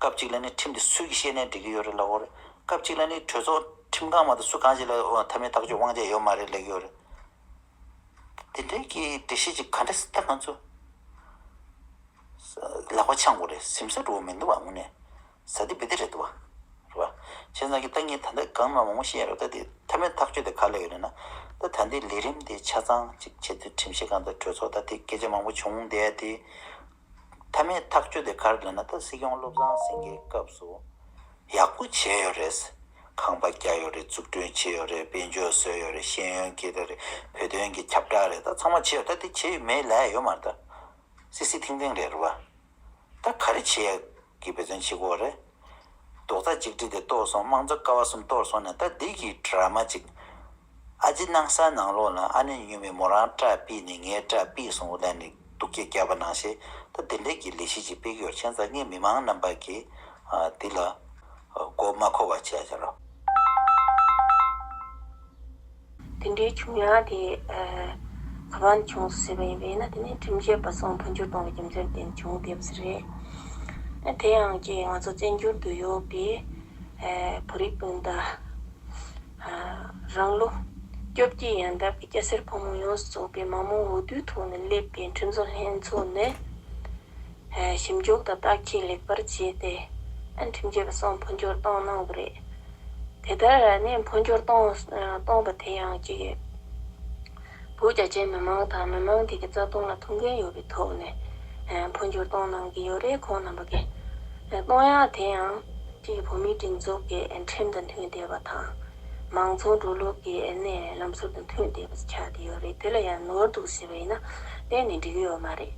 སྐབས་གཅིག་ལ་ནི་ཁྲིམས་དེ་སུས་ཀྱིས་ཤེས་ནས་འགྲིག་གི་ཡོད་རེད་ལབ་འོང་རེད། སྐབས་གཅིག་ལ་ནི་གྲོས་ཚོགས་ཁྲིམས་ཁང་མ་ཏོ་སུ་གང་ཞིག་ལ་མཐའ་མའི་ཐག་གཅོད་དབང་ཆ་ཡོད་མ་རེད་ལེགས་ཡོད་རེད། དེ་འདྲའི་གི་འགྲེལ་བཤད་ཅིག་ག་འདྲ་སྟེ་ང་ཚོ་ལག་པ་འཆང་དགོས་རེད་སེམས་ས་འགྲོ་མི་འདུག་བ་ངོ་ནས་ཟ་དེ་འབི་དེ་རེད་འདུག་བ། རེད་བ། བྱས་ཙང་གི་ད་ངས་ད་ལྟ་གང་མང་མང་པོ་བཤད་རོགས་ད་དེ་མཐའ་མའི་ཐག་གཅོད་དེ་ག་ལ་ཡོད་རེད་ན། ད་ད་འདི་ལས་རིམ་དེ་ཆ་ཚང་ཅིག་བྱས་ཚུལ་ཁྲིམས་ཞིབ་ཁང་དང་གྲོས་ཚོགས་ད་དེ་སྐད་ཆ་མང་པོ་བྱུང་བསྡད་དེ། མཐའ་མའི་ཐག་གཅོད་དེ་གར་དགོས་ན་ད་སྲིད་སྐྱོང་བློ་བཟང་སེང་གེའི་སྐབས་སུ་ཡག་པོ་བྱས་ཡོད་རེད། ཁང་པ་རྒྱག་ཡོད་རེད་འཛུགས་སྐྲུན་བྱས་ཡོད་རེད་དཔལ་འབྱོར་བཟོས་ཡོད་རེད་ཤེས་ཡོན་སྐྱེས་ད་རེད་བོད་དོན་གྱི་ཁྱབ་བསྒྲགས་རེད་ད་ཚང་མ་བྱས་ཡོད་ད་དེ་བྱས་ཡོད་མེད་ལས་ཡོད་མ་རེད་ད་སྲིད་སྲིད་ཐིང་ཐིང་རེད་རེད་བ། ད་ག་རེ་བྱེད་ཡག་གི་བོད་དོན་བྱེད་དགོས་བ་རེད། རྡོག་རྩ་གཅིག་སྒྲིལ་དེ་གཏོར་སོང་དམངས་གཙོ་ཀ་བ་གསུམ་གཏོར་སོང་ནས་ད་བདེ་སྐྱིད་གྲར་མ་ཅིག། ཨ་རྫི་སྣང་ས་ནང་ལོགས་ལ་ཨ་ནེ་སྨྱོན་མས་མོ་རང་སྐྲ་སྤིད་ནས་ངའི་སྐྲ་སྤིད་སོང་བ་ལས་ནས་སྡུག་སྐད་རྒྱབ་པ་ནང་བཞིན་ད་དེ་འདྲས་ཀྱི་ལས་གཞི་ཅིག་སྤེལ་གི་ཡོད་མཁྱེན་རྩ་ངེས་མི་མང་རྣམས་པ་གིས་འདི་ལ་མགོ་མ་འཁོར་བ་བྱས་ཡ་རོ། དེ་འདྲའི་བྱུང་ཡང་དེ་ག་པར་ནས་བྱུང་ཟེར་བ་ཡིན་པས་ན་དེ་ནི་ཁྲིམས་བཤད་པ་སོགས་འཕོ་འགྱུར་གཏོང་བའི་རྒྱུ་མཚན་བརྟེན་བྱུང་དེ་བས་རེད། དེ་ཡང་ཀྱེ་ང་ཚོ་བཙན་བྱོལ་དུ་ཡོད་པའི་བོད་རིགས་སྤུན་ཟླ། རང་ལོ་བཅོ་བརྒྱད་ཡན་འདས་པའི་སྐྱ་སེར་ཕོ་མོ་ཡོངས་སུ་ཚོགས་པའི་མ་མོ་འོས་བསྡུའི་ཐོག་ནས་སླེབས་པའི་ཁྲིམས་བཟོ་ལྷན་ཚོགས་ནི། ཞིབ་འཇུག་དང་བརྟག་དཔྱད་ལེགས་པར་བྱས་ཏེ། ཁྲིམས་འགལ་བ་སོགས་འཕོ་འགྱུར་གཏོང་གནང་གི་རེད། དེ་ལྟར་ནས་འཕོ་འགྱུར་གཏོང་པ་དེ་ཡང་གཅིག་ཡིན། བོད་རྒྱ་ཆེའི་མི་མང་དང་མི་མང་དེ་གའི་རྩ་དོན་ལ་ཐུགས་འགན་ཡོད་པའི་ཐོག་ནས་འཕོ་འགྱུར་གཏོང་གནང་གི་ཡོད་རེད་ཁོང་རྣམ་པ་ཀྱིས། གཏོང་ཡག་དེ་ཡང་གཅིག་བོད་མིའི་སྒྲིག་འཛུགས་ཀྱི་ཁྲིམས་དང་མཐུན་བསྡད་པ་དང། མང་ཚོགས་འགྲོ་ལུགས་ཀྱི་གནས་ལམ་ཟུར་དུ་མཐུད་དེ་ཆགས་ཀྱི་ཡོད་རེད་དེ་ལ་ཡང་ནོར་འདུག་ཟེར་བ་ཡིན་ན་གཏན་ནས་འགྲིག་ཡོད་མ་རེད།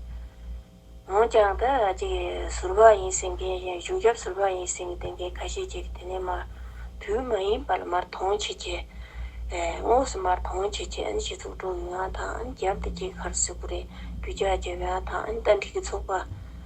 འོན་ཀྱང་ད་ཅིག་ཟུར་པ་ཡིན་ཟེར་མཁན་གཞན་གཞུང་ཞབས་ཟུར་པ་ཡིན་ཟེར་མཁན་ཁ་ཤས་ཀྱིས་དེ་ནས་མར་དུས་མ་ཡིན་པ་ལ་མར་དོང་བྱེད་ཀྱི། དངོས་སུ་མར་དོང་བྱེད་ཀྱི་ཨན་སྤྱི་ཚོགས་དྲུང་ཡིག་ཡང་དང་ཨན་རྒྱབ་ཏུ་སྐྱེས་ཁར་སིལ་བུ་རེ་རྒྱུ་ཆ་བརྒྱབ་ཡང་དང་ཨན་ཏན་ཁྲི་ཀའི་ཚོགས་པ།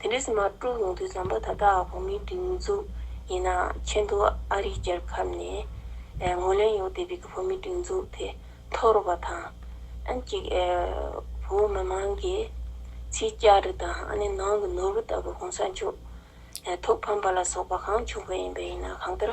དེ་འདྲའི་སྲིད་མ་དཀྲུགས་ཡོང་དུས་བསམ་པ་ད་ལྟ་བོད་མིའི་སྒྲིག་འཛུགས་ཡིན་ན་ཆེན་དུ་ཨ་རིའི་རྒྱལ་ཁབ་ནས་ངོས་ལེན་ཡོད་བསྡད་པའི་གི་བོད་མིའི་སྒྲིག་འཛུགས་དེ་འཐོར་རོགས་པ་དང། ཨན་གཅིག་བོད་མི་མང་གི་ཚིག་བསྐྱར་རི་དང་ཨ་ནི་ནང་གི་ནོར་བུ་ལྟ་བུ་གོང་ས་མཆོག་ཐུགས་ཕམ་པ་ལ་སོགས་པ་གང་བྱུང་བས་ཡིན་པས་ཡིན་ན་གང་ལྟར།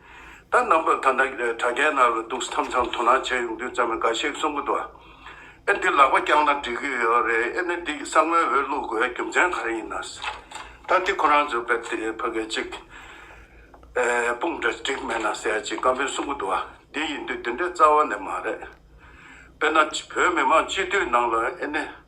ད་རྣམ་པ་ད་ནག་གྲ་རྒྱས་ནག་ལ་འདུག་སྟེ་ཐམས་ཅད་དོ་སྣང་བྱས་ཡོང་དུས་ཙམ་ལ་འགའ་ཤས་གསུང་གི་འདུག་ཨེ་འདི་ལག་པ་བརྐྱངས་ན་འགྲིག་གི་ཡོད་རེད་ཨེ་ནི་འདི་ཡི་ས་ངོས་འོད་བླུག་དགོས་རྒྱུ་མཚན་ག་རེ་ཡིན་ནས་ད་འདི་ཁོ་རང་ཚོའི་བེད་དེ་ཕ་གི་གཅིག་དཔུང་འདྲ་འགྲིག་མེད་ན་ཟེར་ཅིག་བཀའ་མོལ་གསུང་གི་འདུག་འདི་ཡིན་དུས་འདི་འདྲའི་རྩ་བ་ནས་མ་རེད་དཔེར་ན་བོད་མི་མང་སྤྱི་འཐུས་ནང་ལ་ཨེ་ནི།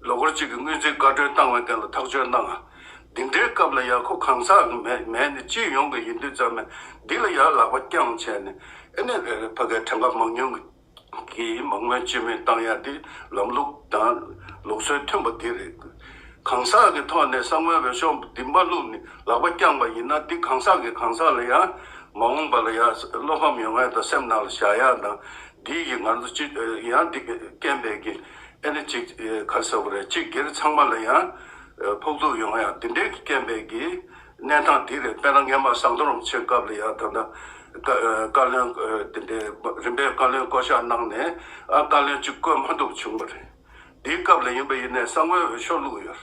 ལོ་འཁོར་གཅིག་གི་སྔོན་རྩིས་བཀའ་འཁྲོལ་བཏང་བའི་ཐད་ལ་ཐག་གཅོད་གནང། འདི་འདྲའི་སྐབས་ལ་ཡར་ཁོ་གང་ཟག་གི་མེད་མེད་ནི་སྤྱི་ཡོངས་ཀྱི་ཡིན་དུས་ཙམ་ནས་འདི་ལ་ཡར་ལག་པ་རྐྱང་བྱས་ནས་ཨེ་ནས་བལ་བོའི་ཕ་སྐད་ཕྲེང་ཀ་མང་ཉུང་གིས་མ་དངོས་སྤྱི་མོས་བཏང་ཡ་འདི་ལམ་ལུགས་དང་ལུགས་སྲོལ་མཐུན་པ་འདི་རེད། གང་ཟག་གི་ཐོག་ནས་ས་ངོས་བོད་ཤོག་འདི་མ་བླུགས་ནི་ལག་པ་རྐྱང་པ་ཡིན་ན་འདི་གང་ཟག་གི་གང་ཟག་ལ་ཡང་མ་འོངས་པ་ལ་ཡང་བློ་ཕམ་ཡོང་ཡ་དང་སེམས་ནང་ལ་བཞག་ཡ་དང། འདི་ཡིས་ང་ཚོ་ཅི་ཡང་འདི་སྐད་འབད་ཀྱི་ཨེ་རེད་ཅིག་ག་ཟེར་བ་རེད་སྤྱི་སྒེར་ཚང་མ་ལ་ཡང་ཕོག་ཐུག་ཡོང་ཡང་འདི་འདྲའི་སྐད་འབད་ཀྱི་གནས་སྟངས་འདི་རེད་དཔེར་ན་ངས་མ་བཟང་རྡོ་རམས་ཆེ་སྐབས་ལ་ཡང་ད་ལྟ་བཀའ་བློན་འདི་འདྲའི་རིམ་པའི་བཀའ་བློན་བསྐོ་གཞག་གནང་ནས་ཨ་བཀའ་བློན་གཅིག་བསྐོས་མ་འདུག་བྱུང་བ་རེད་འདིའི་སྐབས་ལ་ཡིན་པ་ཡིན་ནས་གསང་བའི་འོས་ཤོག་བླུགས་ཡོད།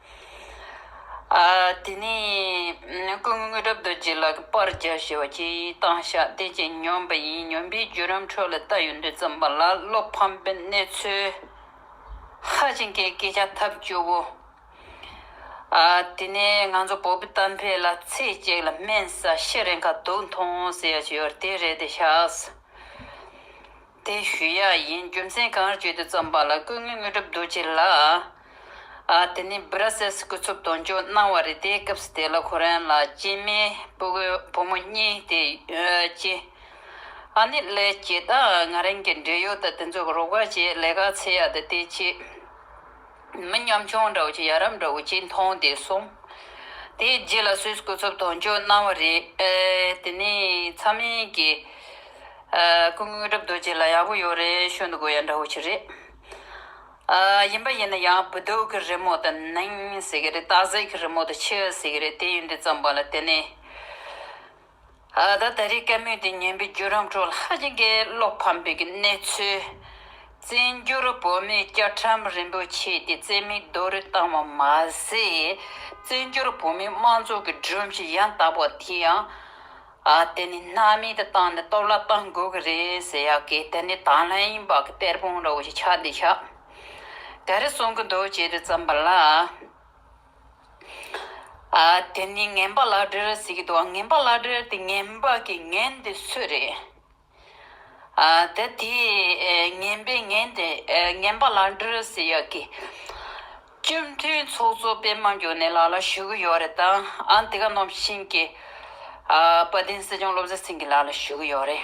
དེ་ནས་སྐུ་ངོས་རབ་རྡོ་རྗེ་ལ་པར་རྒྱག་བྱས་པ་ཁྱེད་ཡི་དྭགས་བཤགས་གཏད་ཅིང་སྙོམས་པ་ཡིན་སྙོམས་པའི་བརྒྱུད་རམ་འཕྲོ་ལ་བལྟ་ཡོད་འདོད་བརྩམས་པ་ལ་བློ་ཕམ་པའི་གནས་ཚུལ། ཧ་ཅིང་གི་སྐད་ཆ་ཐབས་སྐྱོ་བོ། དེ་ནས་ང་ཚོ་བོད་པའི་གཏམ་དཔེ་ལ་ཚེས་གཅིག་ལ་སྨན་ཟ་ཤི་རེ་འཁ་དུག་འཐུང་ཟེར་ཡག་ཅིག་ཡོད་དེ་རེད་དེ་ཤགས། དེ་ཞུས་ཡ་ཡིན་རྒྱུ་མཚན་གང་རེད་བརྗོད་དུ་བརྩམས་པ་ལ་སྐུ་ངོས་དངོས་གྲུབ་རྡོ་རྗེ་ལགས། ཨ་དེ་ནི Brussels སྐུ་ཚབ་དོན་གཅོད་གནང་བ་རེད་དེ་སྐབས་དེ་ལ་ཁོ་རང་ལ་གཅེས་མའི་སྤུ་གོས་བུ་མོ་གཉིས་དེ་གཅེས། ཨ་ནི་ལས་བྱེད་དང་ང་རང་གི་འབྲེལ་ཡོད་དང་དེ་ཚོ་རོགས་པ་བྱེད་ལས་ཀ་ཚེ་ཡ་དང་དེ་བྱེད། མི་ཉམ་ཆུང་འདྲ་བོ་ཆེ་ཡ་རབས་འདྲ་བོ་ཆེ་མཐོང་སྟེ་སོང། དེའི་རྗེས་ལ་སུས་སྐུ་འཚོབ་དོན་གཅོད་གནང་བ་རེད་ཨེ། དེ་ནས་ཚ་མེད་ཀྱིས། སྐུ་དངོས་གྲབས་རྡོ་རྗེ་ལ་ཡག་པོ་ཡོད་རེད་ཤོད་འདུག་གོ་ཡ་འདྲ་བོ་ཆེ་རེད། ཡིན་པ་ཡིན་ན་ཡང་བུ་སྡུག་གི་རི་མོ་དུ་སྣང་ཟེར་གི་རེད་སྟག་གཟིག་གི་རི་མོ་དུ་ཆུ་ཟེར་གི་རེད་དེ་ཡོན་ཏན་ཙམ་པ་ལ་དེ་ནས། ད་ལྟ་རི་སྐད་མོས་དེ་ཉན་པའི་བརྒྱུད་རམ་ཁྲོད་ལྷ་རྗེ་འགའི་བློ་ཕམ་པའི་གནས་ཚུལ། བཙན་འགྱུར་བོད་མིའི་སྐྱ་ཁྲམ་རིན་པོ་ཆེ་དེ་བཙན་མིའི་རྡོ་རུ་བཏང་བ་མ་ཟད། བཙན་འགྱུར་བོད་མིའི་དམངས་གཙོ་གི་སྒྲོམ་གཞི་ཡང་དག་པ་དེ་ཡང། དེ་ནི་སྣ་མེད་དུ་བཏང་ནས་སྟོབས་ལ་བཏང་དགོས་ཀྱི་རེད་ཟེར་ཡག་གི་དེ་ནི་དང་ལྷན་ཡིན་པ་གི་གཏེར་སྤུངས་ར་བོ་ཞིག་ཆགས་འདི་ཆགས། ག་རེ་གསུང་གི་འདུག་བྱས་ཏེ་བརྩམས་པ་ལ། དེ་ནི་ངན་པ་ལག་སྦྲེལ་ཟེར་གྱི་འདུག་ངན་པ་ལག་སྦྲེལ་དེ་ངན་པ་གི་ངན་དེ་སུ་རེད། ད་དེས་ངན་པའི་ངན་དེ་ངན་པ་ལག་སྦྲེལ་ཟེར་ཡག་གི། བཅོམ་མཐུན་ཚོགས་གཙོ་སྤེན་མ་མགྱོགས་ནས་ལག་ལ་ཞུ་གི་ཡོག་རེད་དང་ཨ་འདི་ག་ནོར་བྱིན་གྱི། བ་དན་སྲིད་སྐྱོང་བློ་བཟང་སེང་གི་ལག་ལ་ཞུ་གི་ཡོག་རེད།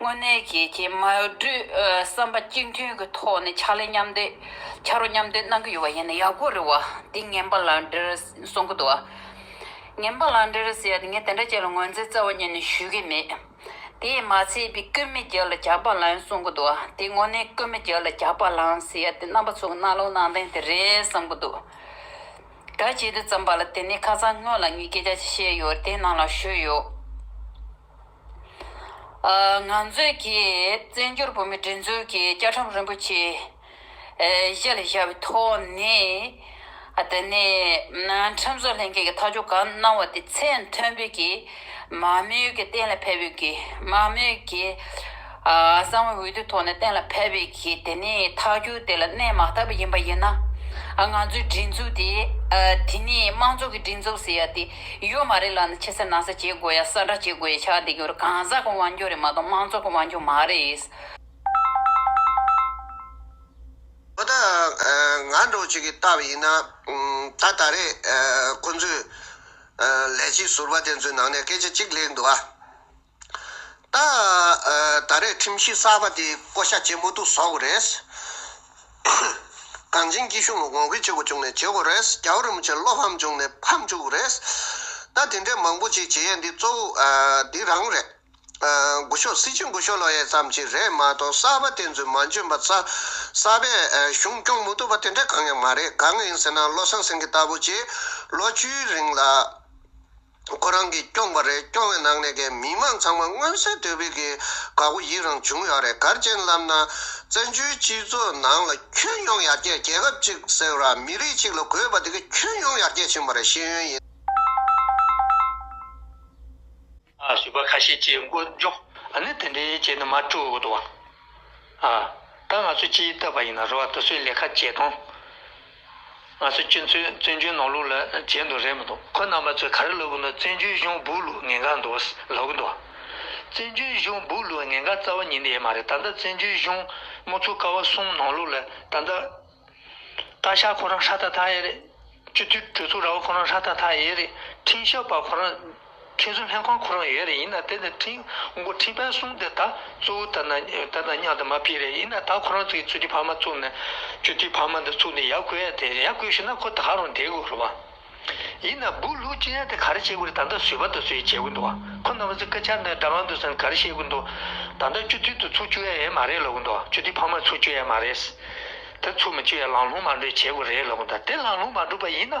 དངོས་གནས་ཀྱི་རྗེས་མ་བསྒྲུབ་བསམ་པ་གཅིག་མཐུན་གྱི་ཐོག་ནས་ཕྱག་ལས་མཉམ་འདེགས་ཕྱག་རོགས་མཉམ་འདེགས་གནང་གི་ཡོད་པ་ཡིན་ན་ཡག་པོ་རེད་བ་འདི་ངན་པ་ལགས་འདྲེར་གསུང་གི་འདུག་བ། ངན་པ་ལགས་འདྲེར་ཟེར་ཡ་ངས་དེ་འདྲ་ཅན་ལ་ངོས་འཛིན་རྩ་བ་ཉིད་ནས་ཞུ་གི་མེད། དེས་མ་ཚད་པའི་ཀུན་མི་རྒྱལ་ལ་ཇག་པ་ལངས་གསུང་གི་འདུག་བ་དེ་དངོས་གནས་ཀུན་མི་རྒྱལ་ལ་ཇག་པ་ལངས་ཟེར་ཡ་དེ་རྣམ་པ་ཚོ་གི་རྣ་ལོག་ནང་བསྟན་དེ་རེད་བསམ་གི་འདུག་ག། བྱེད་དུ་བརྩམས་པ་ལ་དེ་ནས་ཁ་ཚང་སྔོན་ལ་ངས་སྐད་ཆ་ཅིག་བཤད་ཡོད་དེ་ནང་ལ་ཞུས་ཡོད། ང་ཚོས་ཀྱིས་བཙན་བྱོལ་བོད་མིའི་སྒྲིག་འཛུགས་ཀྱི་བཅའ་ཁྲིམས་རིན་པོ་ཆེ་གཞི་ལ་བཞག་པའི་ཐོག་ནས། དེ་ནས་ཁྲིམས་བཟོ་ལྷན་ཁང་གིས་ཐག་གཅོད་གང་གནང་བ་དེ་ཚད་མཐོན་པོས་ཀྱིས་མང་མོས་ཀྱིས་གཏན་ལ་ཕེབས་ཡོད་ཀྱི་མང་མོས་ཀྱིས། གསང་བའི་འོད་དུ་ཐོགས་ནས་གཏན་ལ་ཕེབས་པའི་གིས་དེ་ནས་ཐག་གྱོད་དེ་ལ་གནས་མ་བཏབ་པ་ཡིན་པ་ཡིན་ན། ང་ཚོའི་སྒྲིག་འཛུགས་དེ། དེ་ནས་དམངས་གཙོ་གི་སྒྲིག་འཛུགས་ཟེར་ཡ་དེ་ཡོད་མ་རེད་ལབ་ན་ཕྱི་ས་ནང་ས་བྱེད་དགོས་ཡ་ས་འདྲ་བྱེད་དགོས་ཡ་ཆགས་བསྡད་ཀྱི་རེད་གང་ཟག་གི་དབང་སྒྱུར་རེད་མ་གཏོགས་དམངས་གཙོ་གི་དབང་སྒྱུར་མ་རེད། ཨོ་ད། ང་འདྲོག་བྱེད་ཀྱི་ལྟ་བ་ཡིན་ན། ད་ད་རེས་ཁོང་ཚོས། ལས་བྱེད་ཟུར་པ་དེ་ཚོའི་ནང་ནས་སྐད་ཆ་གཅིག་ལེགས་འདུག་ཨ། ད་ད་རེས་ཁྲིམས་གཞི་གསར་པ་དེ་བསྐོ་བཞག་བྱེད་མུ་ཐུག་བཟོ་དགོས་རེད། གངས་ཅན་སྐྱིད་གཤོངས་ལ་གོང་འཕེལ་བྱེད་དགོས་བྱུང་ནས་བྱེད་དགོས་རེད། རྒྱ་བོད་རིན་པོ་ཆེ་བློ་ཕམ་བྱུང་ནས་ཕམ་བཅུག་གི་རེད། ད་དེ་འདྲས་མང་པོ་ཞིག་བྱེད་ཡས་འདི་གཙོ་བོ་འདི་རང་རེད། འགུལ་ཤོག་སྲིད་སྤྱི་འགུལ་ཤོག་ལོག་ཡས་ཙམ་ཞིག་རེད་མ་གཏོགས་གསར་པ་དེ་ཚོས་མ་འཇོན་པ་རྩ་གསར་པས་གཞུང་སྐྱོང་མུ་ཐུབ་པ་དེ་འདྲས་གང་ཡང་མ་རེད་གང་ཡིན་ཟེར་ན་བློ་བཟང་སེང་གེ་ལྟ་བུ་ཞིག་ལོ་བཅུའི་རིང་ལ། ཁོ་རང་གིས་སྐྱོང་པ་རེད་སྐྱོང་བའི་ནང་ནས་ཀྱི་མི་མང་ཚང་མ་མངོན་གསལ་དོད་པོས་ཀྱི་དགའ་བོ་ཡིད་རང་བྱུང་ཡོད་རེད་གར་མཁྱེན་ལབ་ན་བཙན་བྱོལ་སྤྱི་ཚོགས་ནང་ལ་ཁྱོན་ཡོངས་ཡར་རྒྱས་རྒྱལ་ཁབ་ཅིག་ཟེར་བ་མི་རིགས་ཅིག་ལ་དགོས་པ་དེ་གི་ཁྱོན་ཡོངས་ཡར་རྒྱས་ཕྱིན་པ་རེད་ཤེས་ཡོན་ཡིན། བཟོད་པ་ཁ་ཤས་བཅས་མགོ་འཇོག་ནི་དེ་འདྲའི་བྱས་ནི་མ་སྤྲོ་འདུག་བ། ད་ང་ཚོ་སྤྱིའི་བསྟོད་པ་ཡིན་ན་རུ་བ་དེ་ཚོའི་ལས་ཁ་བྱས་དང། ང་ཚོ་སྤྱི་མཚོའི་བཙན་བྱོལ་ནང་ལུགས་ལ་བྱེད་འདོད་རེད་མི་འདུག་ཁོ་རྣམ་པ་ཚོས་ག་རེ་ལབ་དགོས་ན་བཙན་བྱོལ་གཞུང་སྦུག་ལུགས་ངན་གང་འདུག་ལབ་གི་འདུག་བཙན་བྱོལ་གཞུང་སྦུག་ལུགས་ངན་གང་རྩ་བ་ཉིད་ནས་ཡེ་མ་རེད་ད་ལྟ་བཙན་བྱོལ་གཞུང་དམག་ཚོ་ཀ་བ་གསུམ་ནང་ལུགས་ལ་ད་ལྟ་བཀའ་ཤག་ཁོ་རང་ཧྲ་ཐ་ཐ་ཡེ་རེད་སྤྱི་འཐུས་གྲོས་ཚོགས་ར་བ་ཁོ་རང་ཧྲ་ཐ་ཐ་ཡེ་རེད་འཕྲིན་ཞབས་པ་ཁོ་རང་མཁས་བཙུན་ལྷན་ཁང་ཁོ་རང་ཡོད་རེ་ཡིན་ན་དེ་ནི་ཁྲིན་མགོ་ཁྲིན་བན་གསུམ་དེ་དག་གཙོ་བོ་དར་ན་དར་ན་མྱང་དུ་མ་ཕེབས་རེ་ཡིན་ན་ད་ཁོ་རང་ཚོ་ཡི་ཚུལ་ཁྲིམས་ཕ་མ་བཙུགས་ནས་སྤྱོད་ཚུལ་ཕ་མ་འདི་ཚུགས་ནས་ཡ་གོས་ཡ་དེ་ཡ་གོས་ཞུས་ན་ཁོ་ད་ག་རང་དེ་གོ་རུ་བ། ཡིན་ན་སྦུག་ལྷུག་ཅི་ཡང་དེ་ག་རེ་བྱེད་དགོས་རེ་ད་ལྟ་ཟོས་པ་དང་ཟོས་ཡི་བྱེད་གོས་འདུག་ཁོ་རྣམ་པ་ཚོ་སྐད་ཆ་འདི་འདྲ་མང་འདུག་ས་ནི་ག་རེ་བཤད་གོས་འདུག་ད་ལྟ་སྤྱོད་ཚུལ་དུ་ཚུགས་བཅུག་ཡ་ཡས་མ་རེད་ལབ་གོས་འདུག་སྤྱོད་ཚུལ་ཕ་མ་ཚུགས་བཅུག་ཡ་མ་རེད། དེ་ཚུགས་མི་བཅུག་ཡ་ལང་ལྷུང་མ་འགྲོ་ཡི་བྱེད་གོས་རེད་ལབ་གོས་འདུག་དེ་ལང་ལྷུང་མ་འགྲོ་པ་ཡིན་ན།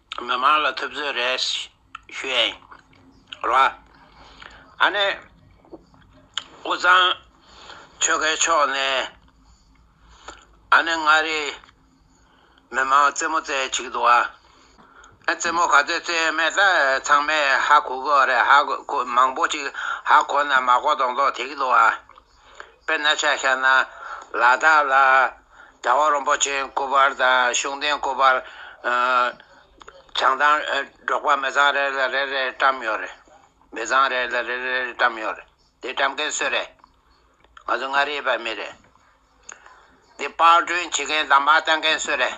མི་མང་ལ་ཐུབ་ཚོད་རེད་བཤད་རོགས། ཨ་ནེ། དབུས་གཙང་ཆོལ་ཁའི་ཕྱོགས་ནས་ཨ་ནེ་མངའ་རིས་མི་མང་རྩེད་མོ་རྩེ་གཅིག་འདུག་ཨ། རྩེད་མོ་ག་ཚོད་རྩེ་མེད་ད་ཚང་མས་ཧ་གོ་གི་རེད་ཧ་གོ་མང་པོ་ཅིག་ཧ་གོ་ན་མ་གོ་མདོག་མདོག་དེ་གི་འདུག་ཨ། དཔེར་ན་ཆ་ཤས་ན་ལ་དྭགས་ལ་གྲྭ་བ་རོན་པོ་ཆེ་སྐུ་པར་དང་གཞུང་བསྟེན་སྐུ་པར་བྱང་ཐང་འབྲོག་པ་མི་ཚང་རེ་ལ་རེ་རེ་བཀྲམ་ཡོད་རེད། མི་ཚང་རེ་ལ་རེ་རེ་བཀྲམ་ཡོད་རེད། དེ་བཀྲམ་མཁན་སུ་རེད། ང་ཚོ་མངའ་རིས་པ་མི་རེད། དེ་དཔར་སྐྲུན་བྱེད་མཁན་དང་མ་བཏང་མཁན་སུ་རེད།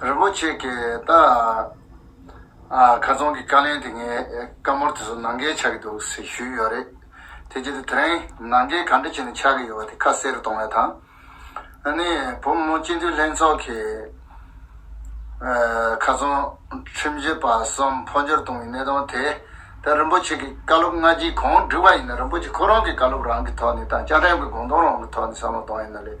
རིན་པོ་ཆེ་གེ་ད་ག་རྫོང་གི་བཀའ་ལན་དེ་ངས་བཀའ་མོལ་དེ་ཚོ་ནང་འགལ་ཆགས་ཀྱི་འདུག་ཟེར་ཞུས་ཡོད་རེད། དེ་རྗེས་དེ་རིང་ནང་འགལ་ག་འདྲ་བྱས་ནས་ཆགས་ཀྱི་ཡོད་པ་དེ་ཁ་གསལ་རུ་གཏོང་བའི་ཐང་ཨ་ནི་བུ་མོ་སྤྱི་འཐུས་ལྷན་ཚོགས་ཀྱི་ག་རྫོང་ཁྲིམས་བྱོལ་པ་གསུམ་འཕོ་འགྱུར་གཏོང་བའི་གནད་དོན་དེ་ད་རིན་པོ་ཆེ་གི་བཀའ་སློབ་སྔ་རྗེས་གང་བསྒྲིགས་པ་ཡིན་ན་རིན་པོ་ཆེ་ཁོ་རང་གི་བཀའ་སློབ་རང་གི་ཐོག་ནས་དང་བཅའ་ཁྲིམས་ཀྱི་དགོངས་དོན་རང་གི་ཐོག་ནས་བསམ་བློ་གཏོང་ཡས་ན་ལེགས།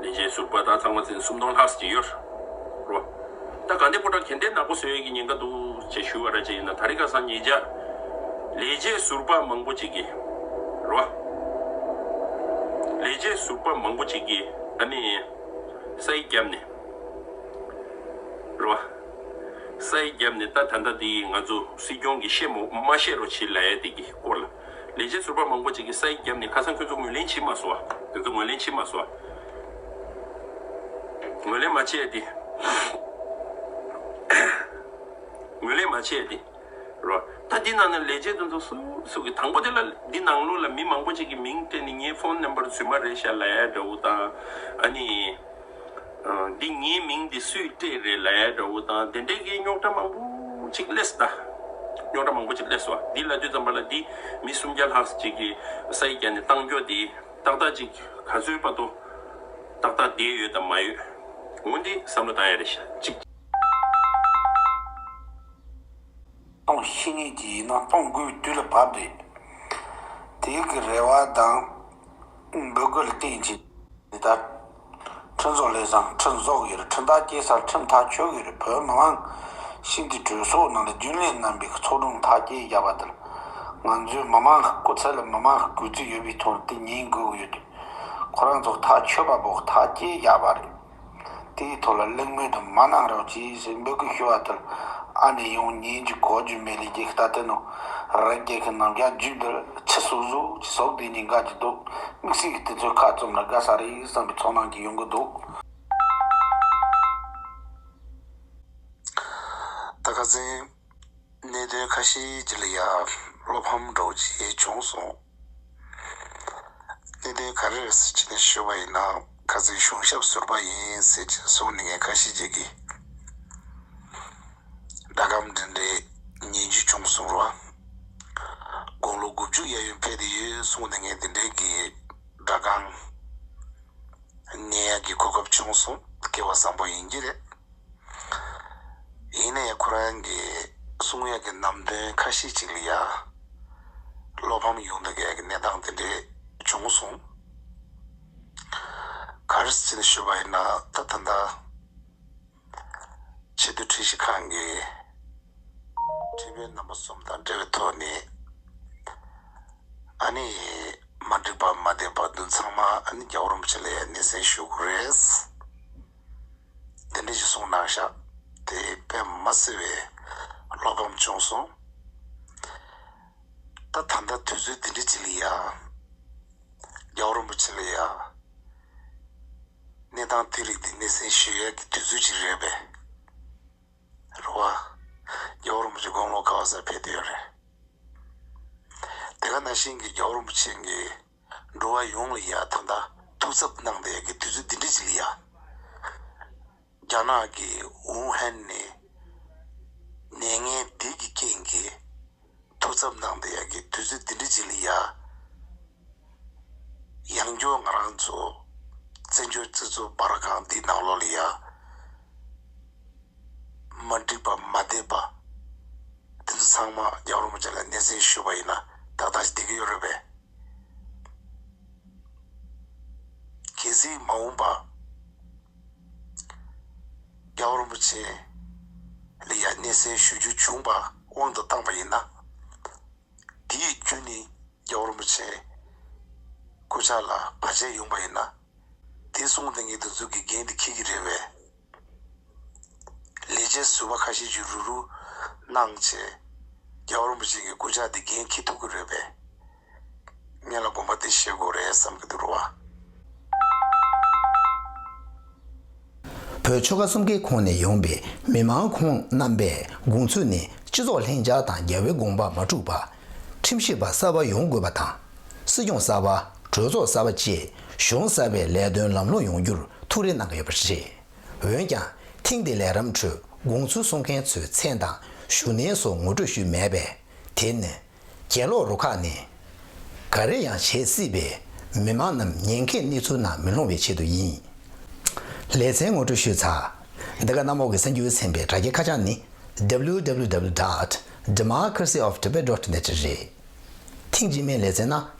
ལས་བྱེད་ཟུར་པ་དག་ཚང་མ་ཚན་སུམ་སྟོང་ལྷག་ཟིན་ཡོད་རོ། ད་དགའ་ལྡན་པོ་དག་གན་དེ་ནག་པོ་བཟོས་ཡོད་ཀྱི་ཉེན་ཁ་འདུག་ཅེས་ཞུ་བ་ར་ཅན་ཡིན་ན་ད་རི་ཁ་སང་ཉེ་བརྒྱ་ལས་བྱེད་ཟུར་པ་མང་པོ་ཅིག་གིས་རོ། ལས་བྱེད་ཟུར་པ་མང་པོ་ཅིག་གིས་ཨ་ནི། ས་ཡི་རྒྱབ་ནས་རོ། ས་ཡི་རྒྱབ་ནས་ད་ད་ལྟ་དེ་ཡིས་ང་ཚོ་སྲིད་སྐྱོང་གིས་བཤད་མ་བཤད་རོ་བྱེད་ལ་ཡ་དེ་ཀྱི་སྐོར་ལ། ལས་བྱེད་ཟུར་པ་མང་པོ་ཅིག་གིས་ས་ཡིག་བརྒྱབ་ནས་ཁ་སང་ཁྱོད་ཚོ་ངོས་ལེན་བྱས་མ་སོང་བ། དེ་ཚོ་ངོས་ལེན་བྱས་མ་སོང་བ། ངོས་ལེན་མ་བྱས་ཏེ། ངོས་ལེན་མ་བྱས་ཏེ། རོ། ད་འདི་ནང་ནས་ལས་བྱེད་དེ་ཚོ་སུ་སུ་གི་དང་པོ་དེ་ལ་འདི་ནང་ལོགས་ལ་མི་མང་པོ་ཅིག་གི་མིང་སྤྲད་ནས་ངའི་ཕོན་ནམ་པར་རྫུན་མ་རེད་ཤག་ལའི་འདྲ་བོ་དང་ཨ་ནི། འདི་ངའི་མིང་འདི་སུས་སྤྲད་རེད་ལས་དགྲ་བོ་དང་དེ་འདྲས་ཀྱི་རྙོག་དྲ་མང་པོ་ཅིག་བསླེས་ད། རྙོག་དྲ་མང་པོ་ཅིག་བསླེས་སོ་འདི་ལ་དུས་ཙམ་པ་ལ་འདི་མི་སུམ་བརྒྱ་ལྷག་ཅིག་གི་ས་ཡིག་བརྒྱ་ནས་བཏང་འགྱོ་འདི་ཏག་ཏག་ཅིག་ག་ཚོད་པ་ཏོ་ཏག་ཏག་བསྡད་ཡོད་དམ་མ་ཡོད་ངོ་འདི་བསམ་བློ་བཏང་ཡ་རེད་ཤ་ཅིག། སྟོང་བཤིག་ངེས་ཀྱི་ཡིན་ན་སྟོང་དགུའི་དུས་ལ་བབ་སྟེ། དེ་གི་རེ་བ་དང་འབོད་སྐུལ་བསྟན་ཅིང་འདི་ལྟར། ཁྲི་ཚོ་ལས་བཟང་ཁྲི་འཛོག་གི་རུ་ཁྲི་མདའ་སྐྱེལ་སར་ཁྲི་མཐའ་ཆོད་གི་རུ་བོད་མི་མང་ཤིན་ཏུ་གྲོས་ཚོགས་ནང་ལ་རྒྱུན་ལས་རྣམ་པའི་གི་ཚོགས་དྲུང་མཐའ་སྐྱེལ་བརྒྱབ་པ་དེར། ང་ཚོའི་མི་མང་གི་སྐུ་ཚེ་ལ་མི་མང་གི་གུས་བརྩི་ཡོད་པའི་ཐོག་ལ་དེ་ཉིན་དགོས་གི་ཡོད་དེ། ཁོ་རང་ཚོ་མཐའ་ཆོད་པ་པོ་མཐའ་སྐྱེལ་བརྒྱབ་པ་རེད། དེའི་ཐོག་ལ་གླེང་མོལ་དུ་མ་གནང་རོགས་ཅེས་འབོད་སྐུལ་ཞུ་བ་ལྟར་ཨ་ནེ་ཡོང་ཉིན་གྱི་གོ་རྒྱུ་མེད་ལས་རྒྱལ་ཁའི་རྟ་དེ་ནོ་རེ་རྒྱལ་ཁའི་ནང་རྒྱག་རྒྱུ་འདིར་ཕྱི་སོ་སོ་ཀྱི་ཟོག་དེ་གཉིས་འགའ་ཅི་འདུག་དམིགས་བསལ་གྱི་དེ་ཚོའི་ཁ་བཙུམ་ན་དགའ་ས་རེད་བསམ་པའི་ཚོར་སྣང་གིས་ཡོང་གི་འདུག། ད་ག་ཟེ། གནད་དོན་ཁ་ཤས་ཀྱི་ལ་ཡང་བློ་ཕམ་སྒྲོག་བྱེད་བྱུང་སོང། གནད་དོན་ག་རེ་རེད་ཟེར་གྱི་ནས་ཤོད་པ་ཡིན་ན་ག་ཚོད་གཞུང་ཞབས་ཟུར་པ་ཡིན་ཟེར་གྱི་གསུང་ནས་ངས་ཁ་ཞེ་བྱེད་ཀི། སྒྲ་སྒམ་འདྲེ་འདྲེ་ཉན་རྒྱུ་བྱུང་གསུང་རོགས། དགུང་ལོ་དགུ་བཅུ་གཡས་གཡོན་ཕེབས་དེ་ཡོད་གསུང་ནས་ངས་དེ་འདྲའི་གི་སྒྲ་སྒང་ཉན་ཡག་གི་གོ་སྐབས་བྱུང་སོང་སྐལ་བ་བཟང་པོ་ཡིན་གྱི་རེད། ཡིན་ནའི་ཁོ་རང་གི་གསུང་ཡག་གི་ནམ་དོན་ཁ་ཤས་ཅིག་ལ་ཡང་བློ་ཕམ་ཡོང་འདུག་གལ་གི་གནས་སྟངས་དེ་འདྲས་བྱུང་སོང། གར་སྤྱིན་ཞུ་བ་ཡིན་ན་ད་ད་ལྟ་ཕྱི་དོན་ཁྲིད་གཞི་ཁང་གི་ཁྲི་བའི་རྣམ་པ་གསུམ་དང་འབྲེལ་བའི་ཐོག་ནས་ཨ་ནི་མ་འགྲིག་པ་མ་བསྡད་པར་བདུན་ཚང་མ་ཨ་ནི་རྒྱ་གོར་མོ་ཆེ་ལ་ཡང་སྣེ་སེན་ཞུ་དགོས་རེད། དེ་འདྲའི་གཞི་བཟུང་གནང་ཤག་དེ་པད་མ་བསིལ་བའི་བློ་ཕམ་བྱུང་སོང། ད་ད་ལྟ་དུས་ཚོད་འདི་འདྲའི་ཅི་ལ་ཡ། རྒྱ་བོ་རིན་པོ་ཆེ་ལ་ཡ། གནས་སྟངས་དེ་རིགས་འདི་སྣེ་སྲིང་ཞུ་ཡས་ཀྱི་དུས་ཚོད་ཅིག་རེད་པས། རེ་བ། རྒྱ་བོ་རིན་པོ་ཆེ་དགོང་ལོ་ག་བ་སར་ཕེབས་འདོད་ཡོད་རེད། དེ་ག་ན་ཤིང་གི་རྒྱ་བོ་རིན་པོ་ཆེ་འགའི་འགྲོ་བ་ཡོངས་ལ་ཡ་ཐང་དང་ཐུགས་འཚབ་གནང་བའི་དུས་ཚོད་འདི་འདྲ་ཞིག་ལ་ཡ། རྒྱ་ནག་གི་ཝུའུ་ཧན་ནས་ནད་ངན་འདི་གི་རྐྱེན་གྱིས་ཐུགས་འཚབ་གནང་བའི་དུས་ཚོད་འདི་འདྲ་ཞིག་ལ་ཡ། ཡང་སྐྱོ་ང་རང་ཚོ་བཙན་བྱོལ་སྤྱི་ཚོགས་འབར་གང་འདི་ནང་ལོགས་ལ་ཡ། མ་འགྲིག་པ་མ་བསྡད་པ། དེ་ཚོ་ཚང་མ་རྒྱ་རོང་པོ་ཅན་ལ་སྣེ་ཟིན་ཞུས་པ་ཡིན་ན་ཏག་ཏག་བསྡད་ཀྱི་ཡོད་རེད་པས། གལ་སྲིད་མ་འོངས་པ། རྒྱ་རོང་པོ་ཅན་ལ་ཡང་སྣེ་ཟིན་ཞུ་རྒྱུ་བྱུང་པ་དབང་དུ་བཏང་པ་ཡིན་ན། དེའི་རྒྱུ་ནི་རྒྱ་རོང་པོ་ཅན་སྐུ་ཕྱྭ་ལ་བར་ཆད་ཡོང་པ་ཡིན་ན། དེ་གསུངས་དེ་ངེད་དུ་འཛུགས་ཀྱི་འགན་དེ་ཁྱེད་ཀྱི་རེད་བས། ལས་བྱེད་ཟུར་པ་ཁ་ཤས་ཀྱིས་རུ་རུ། གནང། བྱེད། རྒྱ་རོན་པོ་ཆེ་གི་སྐུ་ཕྱག་དེ་འགན་ཁྱེད་ཐུག་གི་རེད་བས། ངེད་ལ་དགོངས་པ་དེ་བཞེས་དགོས་རེད་བསམ་གྱི་འདུག་རུ་བ། བོད་ཆོལ་ཁ་གསུམ་ཀའི་ཁོངས་ནས་ཡོང་པའི་མི་མང་ཁོང་རྣམ་པས་དགོངས་ཚུལ་ནི་སྤྱི་ཚོགས་ལྷིང་འཇགས་དང་རྒྱལ་བའི་དགོངས་པ་མ་འཁྲུགས་པ། ཁྲིམས་ཞིབ་པ་གསར་པ་ཡོང་དགོས་པ་དང། སྲིད་སྐྱོང་གསར་པ་གྲོས་ཚོགས་གསར་པ་བཅས་གཞུང་གསར་པའི་ལས་དོན་ལམ་ལྷོང་ཡོང་རྒྱུར་ཐུགས་རེ་གནང་གི་ཡོད་པ་རེད། འོན་ཀྱང་ཐེངས་འདིའི་ལས་རམས་ཁྲོད་དགོངས་ཚུལ་གསུང་མཁན་ཚོའི་མཚན་དང་ཞུ་སྣེ་སོགས་ངོ་སྤྲོད་ཞུས་མེད་པས་དེ་ནི། གྱེན་ལོག་རུ་ཁག་ནས་ག་རེ་ཡང་བྱེད་སྲིད་པས་མི་མང་རྣམས་ཉེན་ཁའི་གནས་ཚུལ་ནང་མི་ལྷུང་བའི་ཆེད་དུ་ཡིན། ལེ་ཚན་ངོ་སྤྲོད་ཞུས་ཚར། འདི་ག་གནམ་འོག་གི་གསར་འགྱུར་ཚན་པའི་དྲ་རྒྱའི་ཁ་བྱང་ནི www. Democracy of Tibet. Net རེད། ཐེངས་རྗེས་མའི་ལེ་ཚན་ན